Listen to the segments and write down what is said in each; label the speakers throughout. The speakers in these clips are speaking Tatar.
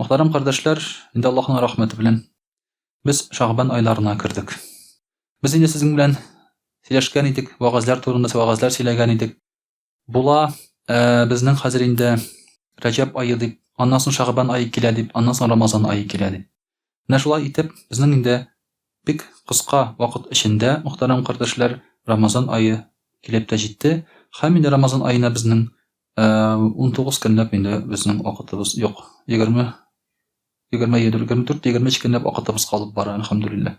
Speaker 1: Мөхтәрәм кардәшләр, инде Аллаһның рәхмәте белән без Шагбан айларына кердек. Без инде сезнең белән сөйләшкән идек, вагазлар турында вагазлар сөйләгән идек. Була, ә, безнең хәзер инде Рәҗәб ае дип, аннан соң Шагбан ае килә дип, аннан соң Рамазан ае килә дип. Менә шулай итеп, безнең инде бик кыска вакыт эчендә, мөхтәрәм кардәшләр, Рамазан ае килеп тә җитте. Һәм инде Рамазан аена безнең 19 көнләп инде безнең вакытыбыз юк. 20 24-23 көнләп вакытыбыз калып бара, әлхәмдүлилләһ.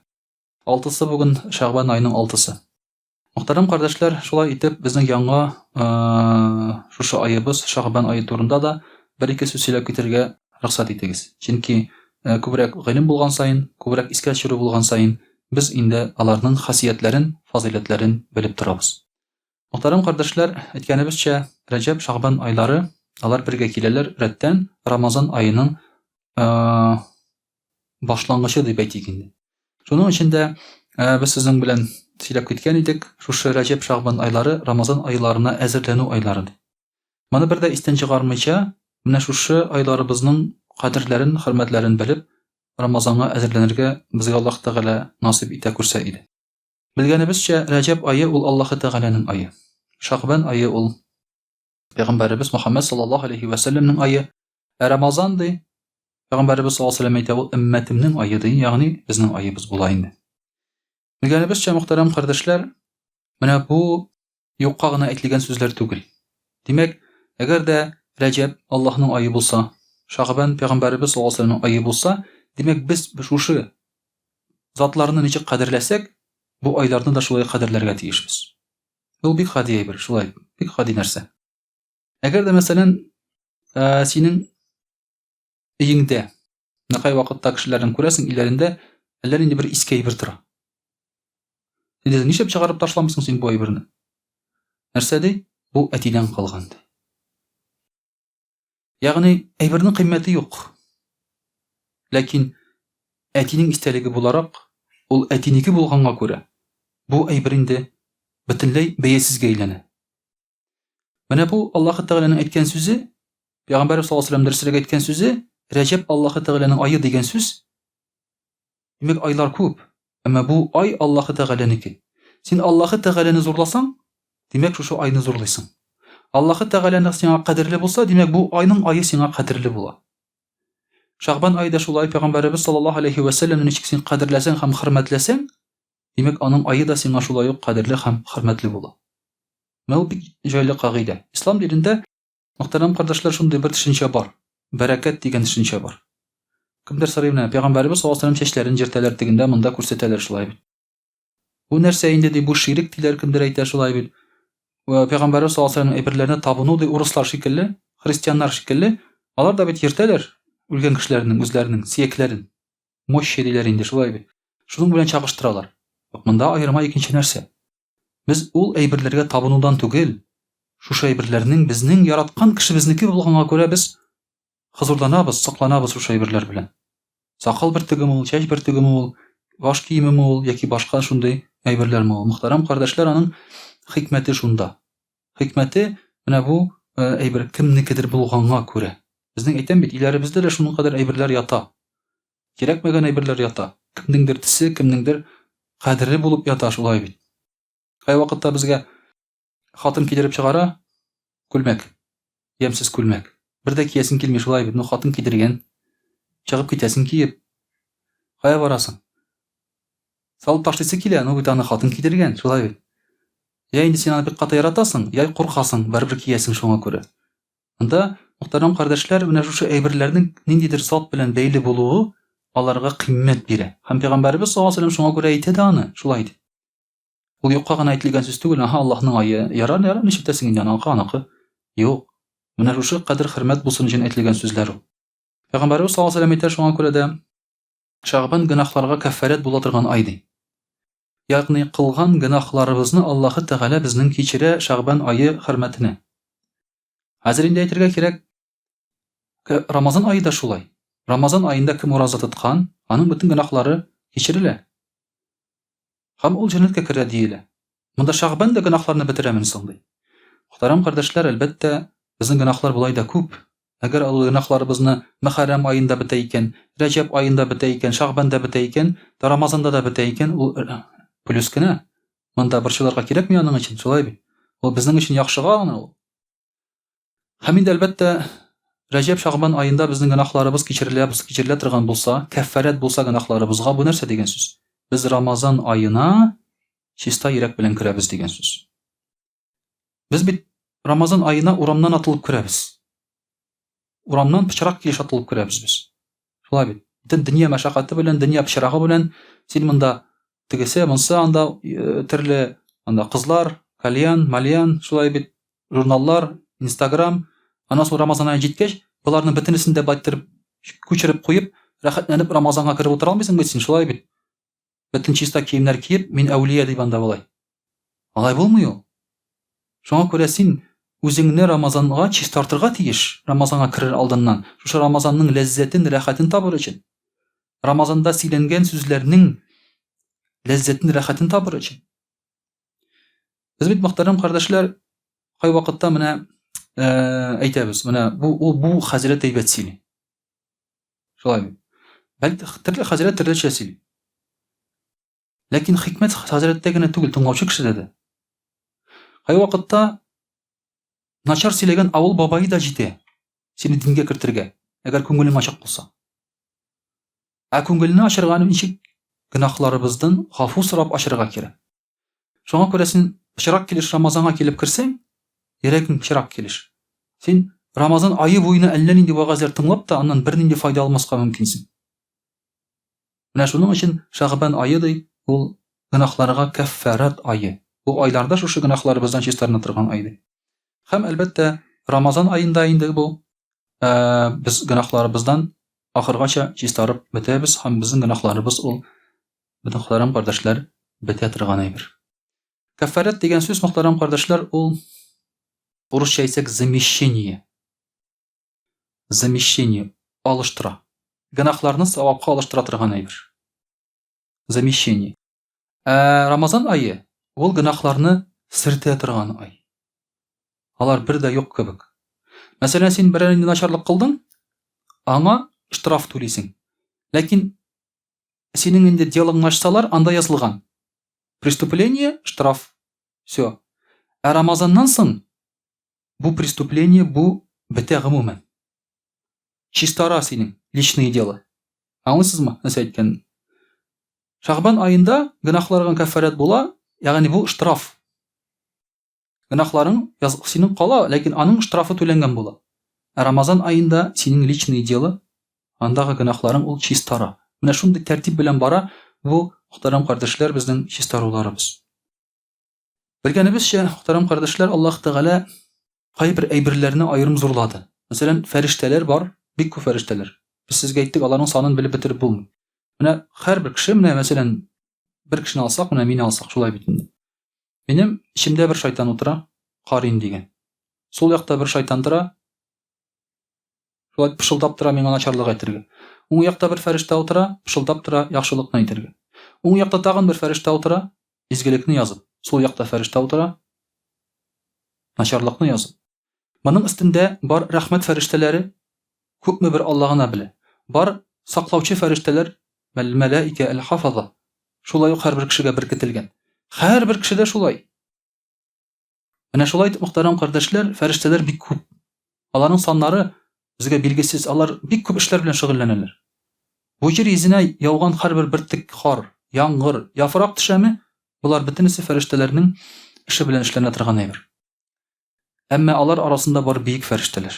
Speaker 1: Алтысы бүген, Шәгъбан аеның алтысы. Мөхтәрәм кардәшләр, шулай итеп, безнең яңа шушы аебыз, Шагбан ае турында да бер-ике сүз сөйләп китергә рөхсәт итегез. Чөнки күбрәк гыйлем булган саен, күбрәк искә төшерү булган саен, без инде аларның хасиятләрен, фазыйләтләрен белеп торабыз. Мөхтәрәм кардәшләр, әйткәнебезчә, Рәҗәб, Шагбан айлары, алар бергә киләләр рәттән Рамазан аеның башлангычы дип әйтик инде. Шуның өчен дә э, без сезнең белән сөйләп киткән идек, шушы Рәҗәб Шагбан айлары Рамазан айларына әзерләнү айлары дип. Моны бер дә истән чыгармыйча, менә шушы айларыбызның кадерләрен, хөрмәтләрен белеп, Рамазанга әзерләнергә безгә Аллаһ Тәгалә насыйп итә күрсә иде. Белгәнебезчә, Рәҗәб ае ул Аллаһ Тәгаләнең ае. Шагбан ае ул Пәйгамбәребез Мөхәммәд саллаллаһу алейхи ва саллямның айы. Ә Рамазан ди, Пәйгамбәребез саллаллаһу алейхи ва әйтә, ул өммәтемнең айы ди, ягъни безнең аебыз була инде. Белгәнебезчә, мөхтәрәм кардәшләр, менә бу юкка гына әйтелгән сүзләр түгел. Димәк, әгәр дә Рәҗәб Аллаһның айы булса, Шагбан пәйгамбәребез саллаллаһу алейхи ва саллямның айы булса, димәк без шушы затларны ничек кадерләсәк, бу айларны да шулай кадерләргә тиешбез. Ул бик гади әйбер, шулай, бик гади нәрсә. Әгәр дә, мәсәлән, ә, синең өеңдә, нәкай вакытта кешеләрен күрәсең, иләрендә әллә нинди бер иске әйбер тора. Син дә ничек чыгарып ташламыйсың син бу әйберне? Нәрсә ди? Бу әтидән калган ди. Ягъни, әйбернең кыйммәте юк. Ләкин әтинең истәлеге буларак, ул әтинеке булганга күрә, бу әйбер инде бөтенләй бәясезгә әйләнә. Менә бу Аллаһы Тәгаләнең әйткән сүзе, Пәйгамбәрбез саллаллаһу алейһи ва сәлләм дөресрәк әйткән сүзе, Рәҗәб Аллаһы Тәгаләнең ае дигән сүз Димәк, айлар күп. Әмма бу ай Аллаһы Тәгаләнеке. Син Аллаһы Тәгаләне зурласаң, димәк, шушы айны зурлыйсың. Аллаһы Тәгаләне сиңа кадерле булса, димәк, бу айның ае сиңа кадерле була. Шагбан ае да шулай Пәйгамбәребез саллаллаһу алейхи ва сәлләмне ничек син кадерләсәң һәм хөрмәтләсәң, димәк, аның ае да сиңа шулай ук кадерле һәм хөрмәтле була. Менә ул бик җайлы кагыйдә. Ислам динендә Мөхтәрәм кардәшләр, шундый бер төшенчә бар. Бәрәкәт дигән төшенчә бар. Кемдер сорый менә, пәйгамбәребез саллаллаһу алейһи чәчләрен җиртәләр тегендә, монда күрсәтәләр шулай бит. Бу нәрсә инде ди, бу ширек диләр, кемдер әйтә шулай бит. Вә пәйгамбәребез саллаллаһу алейһи әйберләренә табыну ди, урыслар шикелле, христианнар шикелле, алар да бит ертәләр үлгән кешеләрнең үзләренең сиякләрен. Мощи диләр инде шулай бит. Шуның белән чагыштыралар. Юк, монда аерма икенче нәрсә. Без ул әйберләргә табынудан түгел, шушы әйберләрнең безнең яраткан кешебезнеке булганга күрә без хозурланабыз, сокланабыз шушы әйберләр белән. Сакал бөртегеме ул, чәч бөртегеме ул, баш киемеме ул яки башка шундый әйберләрме ул? Мөхтәрәм кардәшләр, аның хикмәте шунда. Хикмәте менә бу э, әйбер кемнекедер булганга күрә. Безнең әйтәм бит, иләребездә дә шуның кадәр әйберләр ята. Кирәкмәгән әйберләр ята. Кемнеңдер тесе, кемнеңдер кадере булып ята шулай бит. Кайвакытта безгә хатын кидереп чыгара, күлмәк, ямсыз күлмәк. Бер дә киясен килми шулай бит, ну хатын кидергән. Чыгып китәсен киеп. Кая барасың? Салып ташлыйсы килә, ну бит аны хатын кидергән, шулай бит. Я инде син аны бик каты яратасың, я куркасың, барыбер киясең шуңа күрә. Анда Мөхтәрәм кардәшләр, менә шушы әйберләрнең ниндидер зат белән бәйле булуы аларга кыйммәт бирә. Һәм Пәйгамбәребез саллаллаһу алейһи ва сәлләм шуңа күрә әйтә дә аны, шулай итеп. Ул юкка гына әйтелгән сүз түгел, аһа, Аллаһның ае, ярар, ярар, ничек тәсең инде, аныкы, аныкы. Юк. Менә шушы кадер хөрмәт булсын өчен әйтелгән сүзләр ул. Пәйгамбәребез саллаллаһу алейһи ва сәлләм әйтә, шуңа күрә дә Шәгъбан гөнаһларга кәффарәт була торган ай ди. ягъни кылган гөнаһларыбызны Аллаһы Тәгалә безнең кичерә Шәгъбан ае хөрмәтенә. Хәзер инде әйтергә кирәк, Рамазан ае да шулай. Рамазан аенда кем ураза тоткан, аның бөтен гөнаһлары кичерелә. Һәм ул җәннәткә керә диелә. Монда Шәгъбан да гөнаһларны бетерәмен соң ди. Мөхтәрәм кардәшләр, әлбәттә, безнең гөнаһлар болай да күп. Әгәр олы гөнаһларыбызны Мөхәррәм аенда бетә икән, Рәҗәб аенда бетә икән, Шагъбанда бетә икән, да Рамазанда да бетә икән, ул плюс кенә. Монда борчылырга кирәкми аның өчен, шулай бит. Ул безнең өчен яхшыга гына ул. Һәм инде әлбәттә, Рәҗәб Шагъбан аенда безнең гөнаһларыбыз кичерелә, кичерелә торган булса, кәффарәт булса гөнаһларыбызга, бу нәрсә дигән сүз? Без Рамазан аена чиста йөрәк белән керәбез дигән сүз. Без бит Рамазан аена урамнан атылып керәбез. Урамнан пычрак килеш атылып керәбез без. Шулай бит. Бөтен дөнья мәшәкате белән, дөнья пычрагы белән син монда тегесе, монсы анда э, төрле анда кызлар, кальян, мальян, шулай бит журналлар, Instagram, аннан соң Рамазан ае җиткәч, боларның бөтенесен дә байттырып, күчереп куеп, рәхәтләнеп Рамазанга кереп утыра алмыйсың бит син, шулай бит. бөтен чиста киемнәр киеп, мин әүлия дип анда болай. Алай булмый ул. Шуңа күрә син үзеңне Рамазанга чистартырга тиеш, Рамазанга керер алдыннан, шушы Рамазанның ләззәтен, рәхәтен табыр өчен. Рамазанда сөйләнгән сүзләрнең ләззәтен, рәхәтен табыр өчен. Без бит мөхтәрәм кардәшләр, кайвакытта менә э, әйтәбез, менә бу ул бу хәзрәт әйбәт сөйли. Шулай бит. Бәлки төрле хәзрәт төрлечә сөйли. Ләкин хикмәт хәзрәттә генә түгел, тыңлаучы кешедә дә. Кай вакытта начар сөйләгән авыл бабайы да җитә. Сине дингә кертергә, әгәр күңелең ачык булса. Ә күңелне ачырга ничек гөнаһларыбыздан гафу сорап ачырга кирәк. Шуңа күрә син пычрак килеш Рамазанга килеп керсәң, йөрәгең пычрак килеш. Син Рамазан айы буена әллә нинди вәгазьләр тыңлап та, аннан бернинди файда алмаска мөмкинсең. Менә шуның өчен Шәгъбан айы ди, ул гөнаһларга кәффарат айы. Бу айларда шушы гөнаһларыбыздан чистарына торган ай ди. Һәм әлбәттә, Рамазан аенда инде бу без гөнаһларыбыздан ахыргача чистарып бетәбез һәм безнең гөнаһларыбыз ул Бөтен Мөхтәрәм кардәшләр, бетә торган әйбер. Кәффарәт дигән сүз, Мөхтәрәм кардәшләр, ул урысча әйтсәк, замещение. Замещение алыштыра. Гөнаһларны савапка алыштыра торган әйбер. Замещение. Ә Рамазан айы ул гөнаһларны сертә торган ай. Алар бер дә юк кебек. Мәсәлән, син берәр начарлык кылдың, аңа штраф түлисең. Ләкин Синең инде делоңны ачсалар, анда язылган. Преступление, штраф. Всё. Ә Рамазаннан соң бу преступление, бу бетә гомумән. Чистара синең личные дела. Аңлыйсызмы, нәрсә әйткәнне? Шәгъбан аенда гөнаһларгың кәффарәт була, ягъни бу штраф. Гөнаһларың яз, синең кала, ләкин аның штрафы түләнгән була. Ә Рамазан аенда синең личные дела, андагы гөнаһларың ул чистара. Менә шундый тәртип белән бара бу мөхтәрәм кардәшләр безнең чистаруларыбыз. Белгәнебезчә, мөхтәрәм кардәшләр, Аллаһ Тәгалә кайбер әйберләрне аерым зурлады. Мәсәлән, фәрештәләр бар, бик күп фәрештәләр. Без сезгә әйттек, аларның санын белеп бетереп булмый. Менә һәрбер кеше, менә мәсәлән, бер кешене алсак, менә мине алсак, шулай бит инде. Минем эчемдә бер шайтан утыра, Карин дигән. Сул якта бер шайтан тора, шулай пышылдап тора миңа начарлык әйтергә. Уң якта бер фәрештә утыра, пышылдап тора яхшылыкны әйтергә. Уң якта тагын бер фәрештә утыра, изгелекне язып. Сул якта фәрештә утыра, начарлыкны язып. Моның өстендә бар рәхмәт фәрештәләре күпме бер Алла гына белә. Бар саклаучы фәрештәләр, мәл-мәләикә әл-хафаза, шулай ук һәрбер кешегә беркетелгән. Һәрбер кеше дә шулай. Менә шулай итеп, мөхтәрәм кардәшләр, фәрештәләр бик күп. Аларның саннары безгә билгесез. Алар бик күп эшләр белән шөгыльләнәләр. Бу җир йөзенә яуган һәрбер бөртек кар, яңгыр, яфрак төшәме, болар бөтенесе фәрештәләрнең эше белән эшләнә торган әйбер. Әмма алар арасында бар биек фәрештәләр.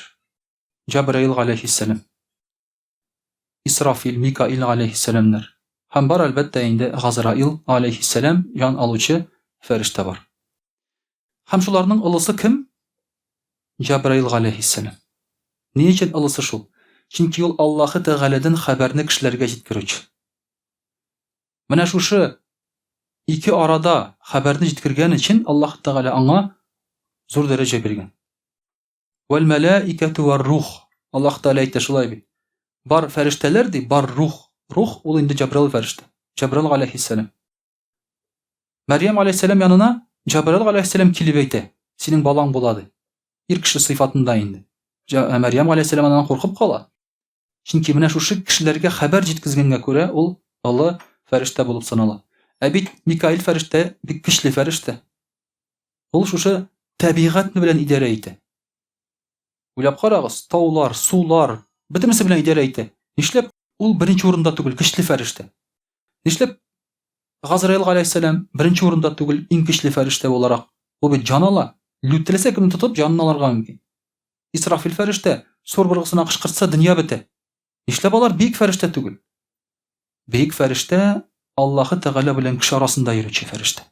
Speaker 1: Җәбраил галәйһиссәлам, Исрафил, Микаил галәйһиссәламнәр һәм бар әлбәттә инде Газраил галәйһиссәлам ян алучы фәрештә бар. Һәм шуларның олысы кем? Җәбраил галәйһиссәлам. Ни өчен олысы шул? Чөнки ул Аллаһы Тәгаләдән хәбәрне кешеләргә җиткерүче. Менә шушы ике арада хәбәрне җиткергән өчен Аллаһ Тәгалә аңа зур дәрәҗә биргән. Вәл мәләикәту вар рух. Аллаһ Тәгалә әйтә шулай бит. Бар фәрештәләр ди, бар рух. Рух ул инде Җабраил фәрештә. Җабраил галәйһиссәлам. Мәрьям галәйһиссәлам янына Җабраил галәйһиссәлам килеп әйтә, синең балаң була ди. Ир кеше сыйфатында инде. Мәрьям галәйһиссәлам аннан куркып кала. Чөнки менә шушы кешеләргә хәбәр җиткезгәнгә күрә ул олы фәрештә булып санала. Ә бит Микаил фәрештә бик көчле фәрештә. Ул шушы табигать белән идарә итә. Уйлап карагыз, таулар, сулар, бөтенесе белән идарә итә. Нишләп ул беренче урында түгел, көчле фәрештә? Нишләп Газраил галәйһиссәлам беренче урында түгел, иң көчле фәрештә буларак? Ул бит җан ала. Лүтеләсә кемне тотып җанын алырга мөмкин. Исрафил фәрештә сур быргысына кычкыртса, дөнья бетә. Нишләп алар бөек фәрештә түгел? Бөек фәрештә Аллаһы Тәгалә белән кеше арасында йөрүче фәрештә.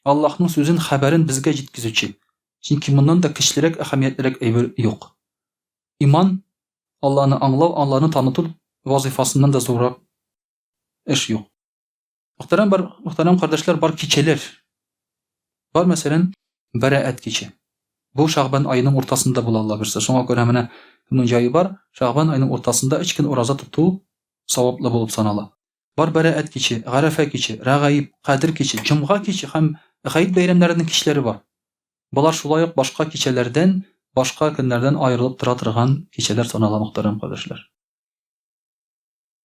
Speaker 1: Аллаһның сүзен, хәбәрен безгә җиткезүче. Чөнки моннан да кечелерәк, әһәмиятлерәк әйбер юк. Иман, Алланы аңлау, Алланы таныту вазыйфасыннан да зуррак эш юк. Мөхтәрәм бар, мөхтәрәм кардәшләр, бар кичәләр. Бар мәсәлән, Бәрәәт киче. Бу Шагбан аеның уртасында була Алла бирсә. Шуңа күрә менә кемнең җае бар, Шагбан аеның уртасында 3 көн ураза тоту саваплы булып санала. Бар Бәрәәт киче, Гарәфә киче, Рәгаиб, Кадер киче, Җомга киче һәм Гайд бәйрәмнәренең кичләре бар. Болар шулай ук башка кичәләрдән, башка көннәрдән аерылып тора торган кичәләр санала, мөхтәрәм кардәшләр.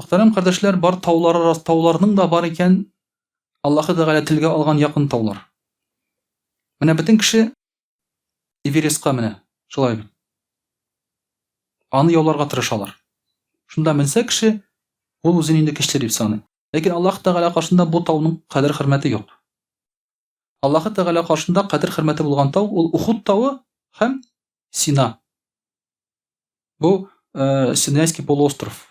Speaker 1: Мөхтәрәм кардәшләр, бар таулар рас, тауларның да бар икән Аллаһы Тәгалә телгә алган якын таулар. Менә бөтен кеше Эверестка менә, шулай бит. Аны яуларга тырышалар. Шунда менсә кеше, ул үзен инде кеше дип саный. Ләкин Аллаһ Тәгалә каршында бу тауның кадер хөрмәте юк. Аллаһы Тәгалә каршында кадер хөрмәте булган тау ул Ухуд тавы һәм Сина. Бу э, Синайский полуостров.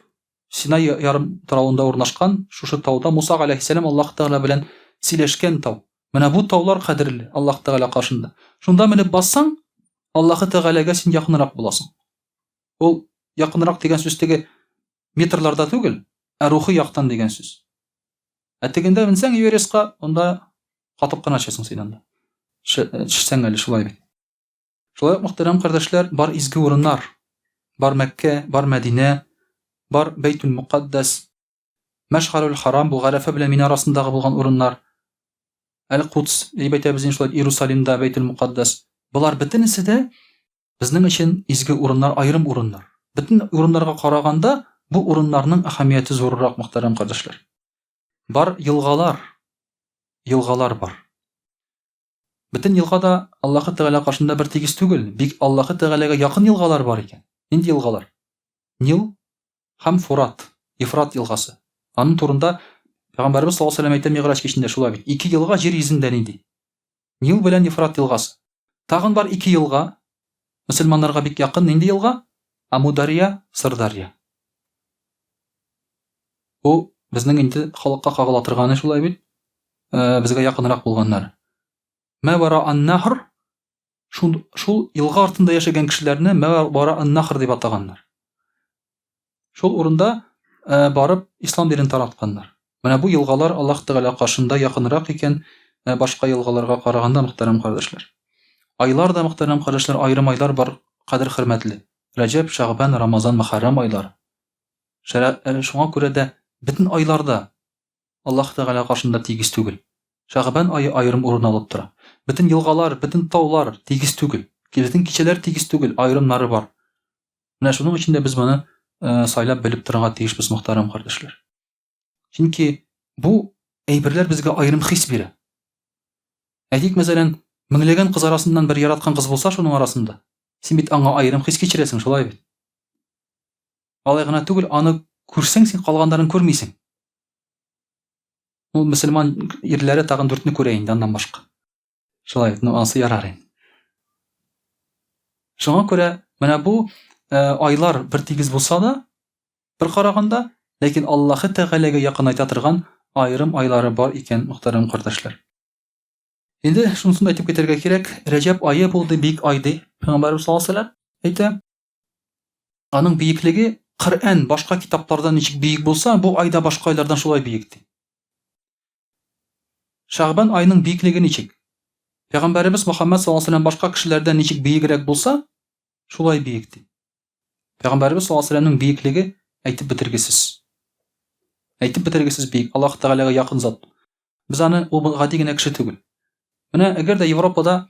Speaker 1: Сина ярым таравында урнашкан шушы тауда Муса галәйһиссәлам Аллаһ Тәгалә белән сөйләшкән тау. Менә бу таулар кадерле Аллаһ Тәгалә каршында. Шунда менеп бассаң, Аллаһы Тәгаләгә син якынрак буласың. Ул якынрак дигән сүз теге метрларда түгел, ә рухи яктан дигән сүз. Ә тегендә менсәң Эверестка, онда катып кына төшәсең син анда. Төшсәң әле шулай бит. Шулай ук, мөхтәрәм кардәшләр, бар изге урыннар, бар Мәккә, бар Мәдинә, бар Бәйтүл Мукаддас, Мәшгарүл Харам, бу Гарәфә белән Мина арасындагы булган урыннар, Әл-Кудс, дип әйтәбез инде шулай, Иерусалимда Бәйтүл Мукаддас. Болар бөтенесе дә Безнең өчен изге урыннар аерым урыннар. Бөтен урыннарга караганда, бу урыннарның әһәмияте зуррак, мөхтәрәм кардәшләр. Бар елгалар, елгалар бар. Бөтен елга да Аллаһы Тәгалә каршында бер тигез түгел, бик Аллаһы Тәгаләгә якын елгалар бар икән. Нинди елгалар? Нил һәм Фурат, Ефрат елгасы. Аның турында Пәйгамбәрбез саллаллаһу алейһи ва сәлләм әйтә Мигъраҗ кичендә шулай бит. Ике елга җир йөзендә нинди? Нил белән Ефрат елгасы. Тагын бар ике елга, мөселманнарга бик якын, нинди елга? Амударья, Сырдарья. Бу безнең инде халыкка кагыла торганы шулай бит. Безгә якынрак булганнар. Мә вара ан-нахр шул, шул елга артында яшәгән кешеләрне мә вара ан-нахр дип атаганнар. Шул урында э, барып ислам динен таратканнар. Менә бу елгалар Аллаһ Тәгалә каршында якынрак икән, э, башка елгаларга караганда, мөхтәрәм кардәшләр. Айлар да, мөхтәрәм кардәшләр, аерым айлар бар, кадер хөрмәтле. Рәҗәб, Шәгъбан, Рамазан, Мөхәррәм айлар. Э, шуңа күрә дә бөтен айларда Аллаһ Тәгалә каршында тигез түгел. Шәгъбан айы аерым урын алып тора. Бөтен елгалар, бөтен таулар тигез түгел. Бөтен кичәләр тигез түгел, аерымнары бар. Менә шуның өчен дә без моны э, сайлап белеп торырга тиешбез, мөхтәрәм кардәшләр. Чөнки бу әйберләр безгә аерым хис бирә. Әйтик, мәсәлән, меңләгән кыз арасыннан бер яраткан кыз булса, шуның арасында син бит аңа аерым хис кичерәсең, шулай бит. Алай гына түгел, аны күрсәң, син калганнарын күрмисең. Ул мөселман ирләре тагын дүртне күрә инде аннан башка. Шулай, ну ансы ярар инде. Шуңа күрә менә бу э, айлар бер тигез булса да, бер караганда, ләкин Аллаһы Тәгаләгә якынайта торган аерым айлары бар икән, мөхтәрәм кардәшләр. Инде шунысын әйтеп китәргә кирәк, Рәҗәб ае булды бик ай ди, Пәйгамбәрбез саллаллаһу алейһи ва әйтә. Аның биеклеге Коръән башка китаплардан ничек биек булса, бу айда башка айлардан шулай биек ди. Шәгъбан айының биеклеге ничек? Пәйгамбәребез Мөхәммәд саллаллаху алейһи башка кешеләрдән ничек биегрәк булса, шулай биек ди. Пәйгамбәребез саллаллаху алейһи вәсәлләмнең биеклеге әйтеп бетергесез. Әйтеп бетергесез биек. Аллаһ Тәгаләгә якын зат. Без аны ул гади генә кеше түгел. Менә әгәр дә Европада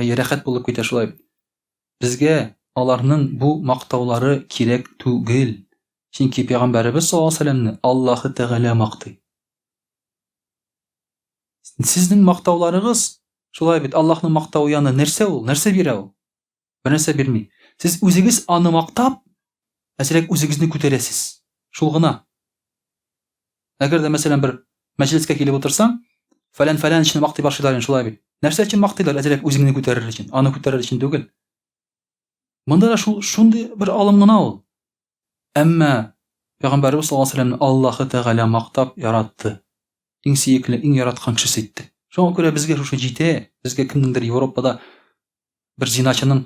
Speaker 1: Әйе, рәхәт булып китә шулай. Безгә аларның бу мактаулары кирәк түгел. Чөнки пәйгамбәребез саллаллаһу алейһи сәләмне Аллаһы Тәгалә мактый. Сезнең мактауларыгыз шулай бит, Аллаһның мактавы яны нәрсә ул? Нәрсә бирә ул? Бернәрсә бирми. Сез үзегез аны мактап, әзрәк үзегезне күтәрәсез. Шул гына. Әгәр дә, мәсәлән, бер мәҗлескә килеп утырсаң, фәлән фәләнчне мактый башлыйлар инде, шулай бит. Нәрсә өчен мактыйлар? Әзрәк үзеңне күтәрер өчен, аны күтәрер өчен түгел. Монда да шул шундый бер алым гына ул. Әмма Пәйгамбәрбез саллаллаһу алейһи вәсәлләмне Аллаһы Тәгалә мактап яратты. Иң сөекле, иң яраткан кешесе итте. Шуңа күрә безгә шушы җитә, безгә кемнеңдер Европада бер зиначының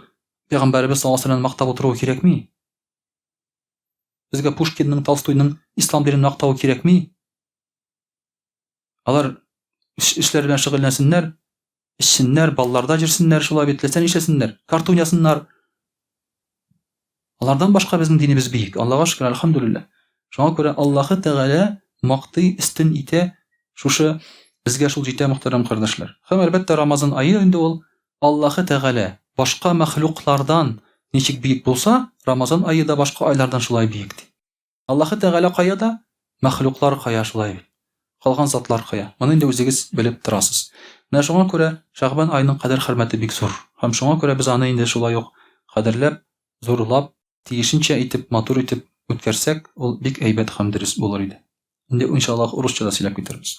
Speaker 1: Пәйгамбәрбез саллаллаһу алейһи вәсәлләмне мактап утыруы кирәкми. Безгә Пушкинның, Толстойның ислам динен мактавы кирәкми. Алар эшләр белән шөгыльләнсеннәр, эчсеннәр, балларда җирсеннәр, шулай бит, теләсә нишләсеннәр, картун ясыннар. Алардан башка безнең динебез биек. Аллага шөкер, альхамдулилла. Шуңа күрә Аллаһы Тәгалә мактый, истин итә, шушы безгә шул җитә мөхтәрәм кардәшләр. Һәм әлбәттә Рамазан ае инде ул Аллаһы Тәгалә башка мәхлуклардан ничек биек булса, Рамазан ае да башка айлардан шулай биек, ди. Аллаһы Тәгалә кая да, мәхлуклар кая шулай бит. Калган затлар кая. Моны инде үзегез белеп торасыз. Менә шуңа күрә Шәгъбан аеның кадер-хөрмәте бик зур. Һәм шуңа күрә без аны инде шулай ук кадерләп, зурлап, тиешенчә итеп, матур итеп үткәрсәк, ул бик әйбәт һәм дөрес булыр иде. Инде, иншаллаһ, урысча да сөйләп китербез.